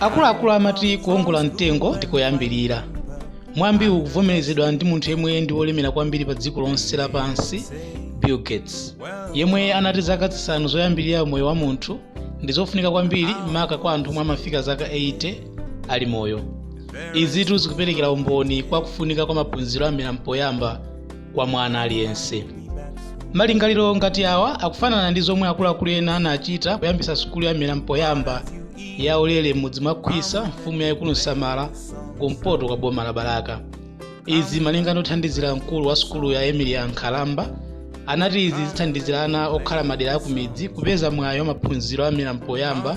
akuluakulu amati kuongola mtengo ndi koyambirira mwambiwu ukuvomerezedwa ndi munthu yemwe ndi wolemera kwambiri pa dziko lonse lapansi bill gates yemwe anati zaka zisanu zoyambirira moyo wa munthu ndi zofunika kwambiri maka kwa anthu omwe amafika zaka 80 ali moyo izitu zikuperekera umboni kwa kufunika kwa maphunziro a mmera mpoyamba kwa mwana aliyense malingaliro ngati awa akufanana ndi zomwe akuluakulu ena anachita kuyambisa sukulu ya mmera mpoyamba ya ulere m'mudzi mwa khwisa mfumu yayikulu nsamala kumpoto kwa boma la balaka izi malinga ndi othandizira mkulu wa sukulu ya emilia nkhalamba anati izi zithandizira ana okhala madera akumidzi kupeza mwayi wa maphunziro a mmera mpoyamba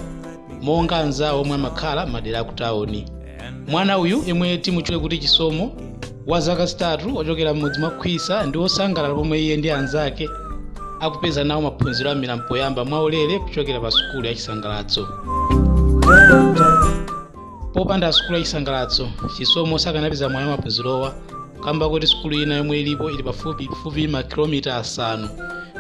monga anzawo omwe amakhala madera akutawuni mwana uyu yemwe timutchule kuti chisomo wa zaka zitatu ochokera m'mudzi mwa khwisa ndi wosangalala pomwe iye ndi anzake akupeza nawo maphunziro a mmera mpoyamba mwaulere kuchokera pa sukulu ya chisangalatso Popanda sukulu ya chisangalatso, Chisomo sakanapeza mwayi wa maphunzirowa kamba koti sukulu ina yomwe ilipo ili pafupifupi makilomita asanu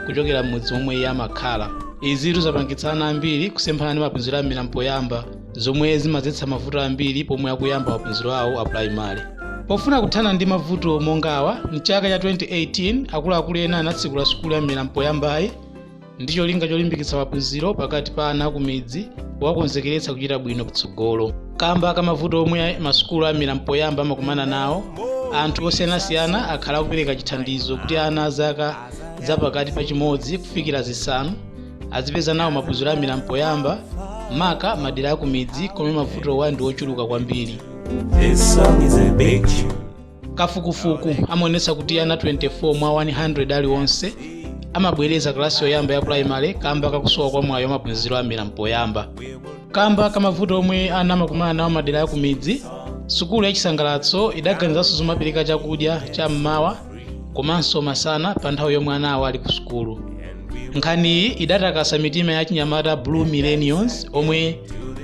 kuchokera m'mudzi momwe iye amakhala. Izitu zapangitsa ana ambiri kusemphana ndi maphunziro a mmera mpoyamba zomwe zimadzetsa mavuto ambiri pomwe akuyamba maphunziro awo a pulayimale. Pofuna kuthana ndi mavuto monga awa, mchaka cha 2018 akuluakulu ena anatsekula sukulu ya mmera mpoyambayi. ndi cholinga cholimbikitsa maphunziro pakati pa ana akumidzi kuwakonzekeretsa kuchita bwino kutsogolo kamba ka mavuto omwe masukulu a mmera mpoyamba amakumana nawo anthu osiyanasiyana akhala akupereka chithandizo kuti ana a zaka za pakati pa chimodzi kufikira zisanu azipeza nawo maphunziro a mmera mpoyamba maka madera akumidzi komwe mavutowa ndi ochuluka kwambiri kafukufuku amaonetsa kuti ana 24 mwa 100 aliwonse amabwereza kalasi yoyamba ya pulayimale kamba kakusowa kwa mwayi wa maphunziro a mmera mpoyamba kamba kamavuto omwe ana amakumana nawo madera akumidzi sukulu ya chisangalatso idaganizanso zomapereka chakudya cha mmawa komanso masana pa nthawi yomwe anawo ali ku sukulu nkhaniyi idatakasa mitima ya achinyamata blue millennials omwe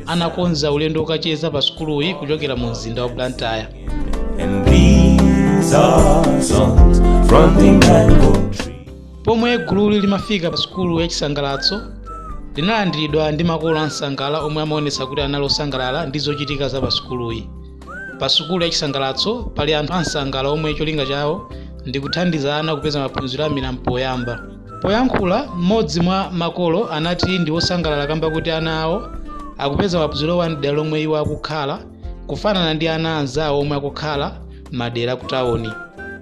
anakonza ulendo wokacheza pa sukuluyi kuchokera mu mzinda wa blantyre Pomwe gululi limafika pa sukulu ya Chisangalatso, linalandiridwa ndi makolo ansangala omwe amaonetsa kuti anali osangalala ndi zochitika za pa sukuluyi. Pa sukulu ya Chisangalatso pali anthu ansangala omwe cholinga chawo ndi kuthandiza ana kupeza maphunziro a mmera mpoyamba. Poyankhula, m'modzi mwa makolo anati ndi wosangalala kamba koti ana awo akupeza maphunzirowa m'dera lomwe iwo akukhala. kufanana ndi ana anzawo omwe akukhala m'madera akutawuni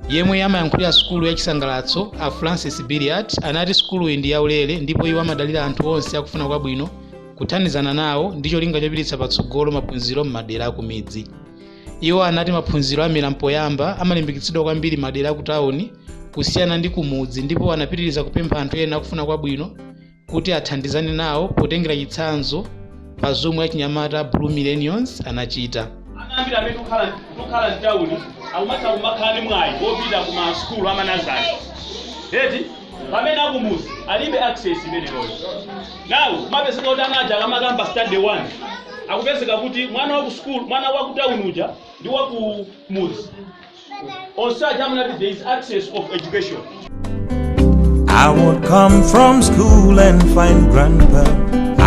yemwe amayankhulira sukulu yachisangalatso a francis billiat anati sukuluyi ndi yaulere ndipo iwo amadalira anthu onse akufuna kwabwino kuthandizana nawo ndi cholinga chopititsa patsogolo maphunziro m'madera akumidzi iwo anati maphunziro a mmera mpoyamba amalimbikitsidwa kwambiri m'madera akutawuni kusiyana ndi kumudzi ndipo anapitiriza kupempha anthu ena akufuna kwabwino kuti athandizane nawo potengera chitsanzo pa zomwe achinyamata a Blue Millennials anachita. Ana ambiri amene tikukhala tikukhala m'tawuni akumatha kumakhala ndi mwayi wopita ku masukulu amanazale eti pamene akumuzi alibe access imeneyoyo nawo kumapezeka kuti ana aja akamakayamba stand 1 akupezeka kuti mwana wa ku school mwana wa ku town uja ndi wa ku muzi Onse aja amunati there is access of education. I would come from school and find grandpa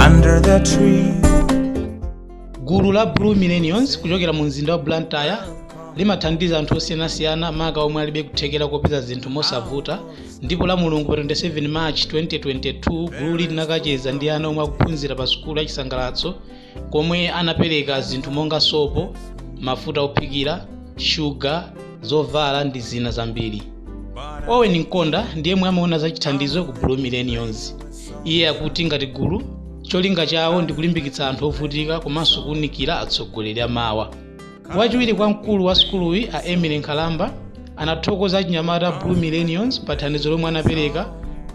under the tree. gulu la blue millennials kuchokera mu mzinda wa blantyre limathandiza anthu osiyanasiyana maka omwe alibe kuthekera kopeza zinthu mosavuta ndipo lamulungu pa 27 march 2022 gululi linakacheza ndi ana omwe akuphunzira pa sukulu ya chisangalatso komwe anapereka zinthu monga sopo, mafuta ophikira, shuga, zovala ndi zina zambiri. Owen Nkonda ndi yemwe amaona za chithandizo ku Blue Millennials. Iye akuti ngati gulu, cholinga chawo ndi kulimbikitsa anthu ovutika komanso kuunikira atsogoleri amawa. wachiwiri kwa mkulu wa sukuluyi a emily nkhalamba anathokoza achinyamata a blue millennials pa thandizo lomwe anapereka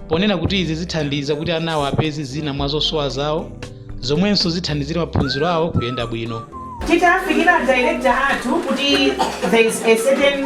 ponena kuti izi zithandiza kuti anawo apeze zina mwa zosowa zawo zomwenso zithandizire maphunziro awo kuyenda bwino titafikira director athu kuti there is a certain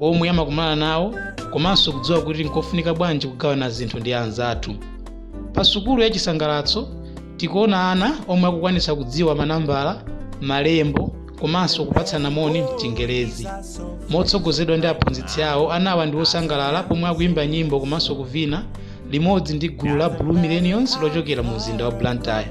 omwe amakumana nawo komanso kudziwa kuti nkofunika bwanji kugawana zinthu ndi anzathu pa sukulu ya chisangalatso tikuona ana omwe akukwanitsa kudziwa manambala malembo komanso kupatsana moni mchingerezi motsogozedwa ndi aphunzitsi awo anawa ndi osangalala pomwe akuimba nyimbo komanso kuvina limodzi ndi gulu la blue millennials lochokera mu mzinda wa blantyre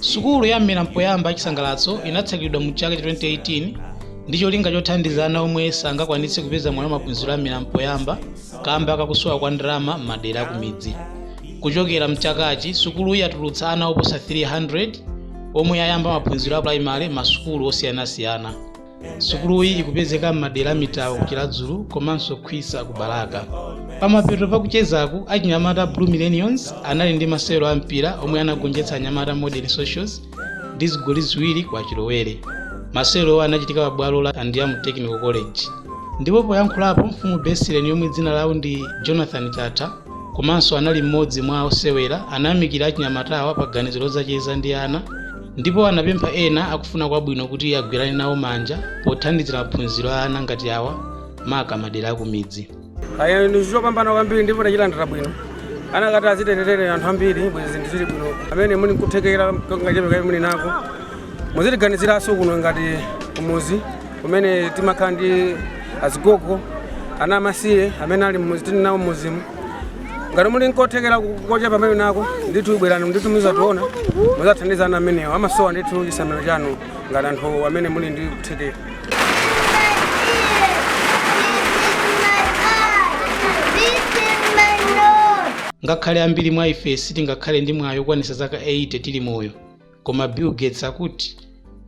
sukulu ya mmera mpoyamba ya chisangalatso inatsegulidwa mu chaka cha 2018 ndi cholinga chothandiza ana omwe sangakwanitse kupeza mwayi wa maphunziro a mmera mpoyamba kamba kakusowa kwa ndalama m'madera akumidzi kuchokera mchakachi sukuluyi yatulutsa ana oposa 300 omwe ayamba maphunziro a pulayimale m'masukulu osiyanasiyana sukuluyi ikupezeka m'madera a mitawo ku chiladzulu komanso khwisa ku balaka pamapeto pakuchezaku achinyamata a blue millennials anali ndi masewero a mpira omwe anagonjetsa anyamata modern socials ndi zigoli ziwiri kwa chilowezi masewerowo anachitika pa bwalo la andiamo technical college ndipo poyankhulapo mfumu besileni yomwe dzina lawo ndi jonathan chatha komanso anali mmodzi mwa osewera anayamikira achinyamatawa pa ganizo lodzacheza ndi ana ndipo anapempha ena akufuna kwabwino kuti agwirane nawo manja pothandizira maphunziro a ana ngati awa maka madera akumidzi Ayi nchopambana kwambiri ndipo tachilandira bwino anakati azitere anthu ambiri bwezi zinthu zili bwino amene muli nkuthekera kangachepe kamene muli nako muzitiganizirenso kuno ngati kumuzi kumene timakhala ndi azigogo ana amasiye amene ali mmuzi tili nawo mmuzimu ngati muli nkuthekera kochepa komwe muli nako ndithu bwerani ndithu muzationa muzathandiza ana amenewo amasowa ndithu chisamaliro chanu ngati anthu amene muli ndi kuthekera ngakhale ambiri mwa ife sitingakhale ndi mwayi wokwanitsa zaka 80 tili moyo Koma Bill Gates akuti,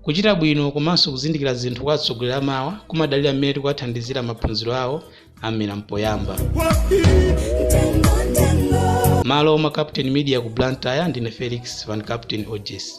Kuchita bwino komanso kuzindikira zinthu kwa atsogoleri amawa kumadalira mmene tikuwathandizira maphunziro awo a mmera m'poyamba. M'malo mwa Captain Media ku Blantyre ndine Felix Van Captain Hodges.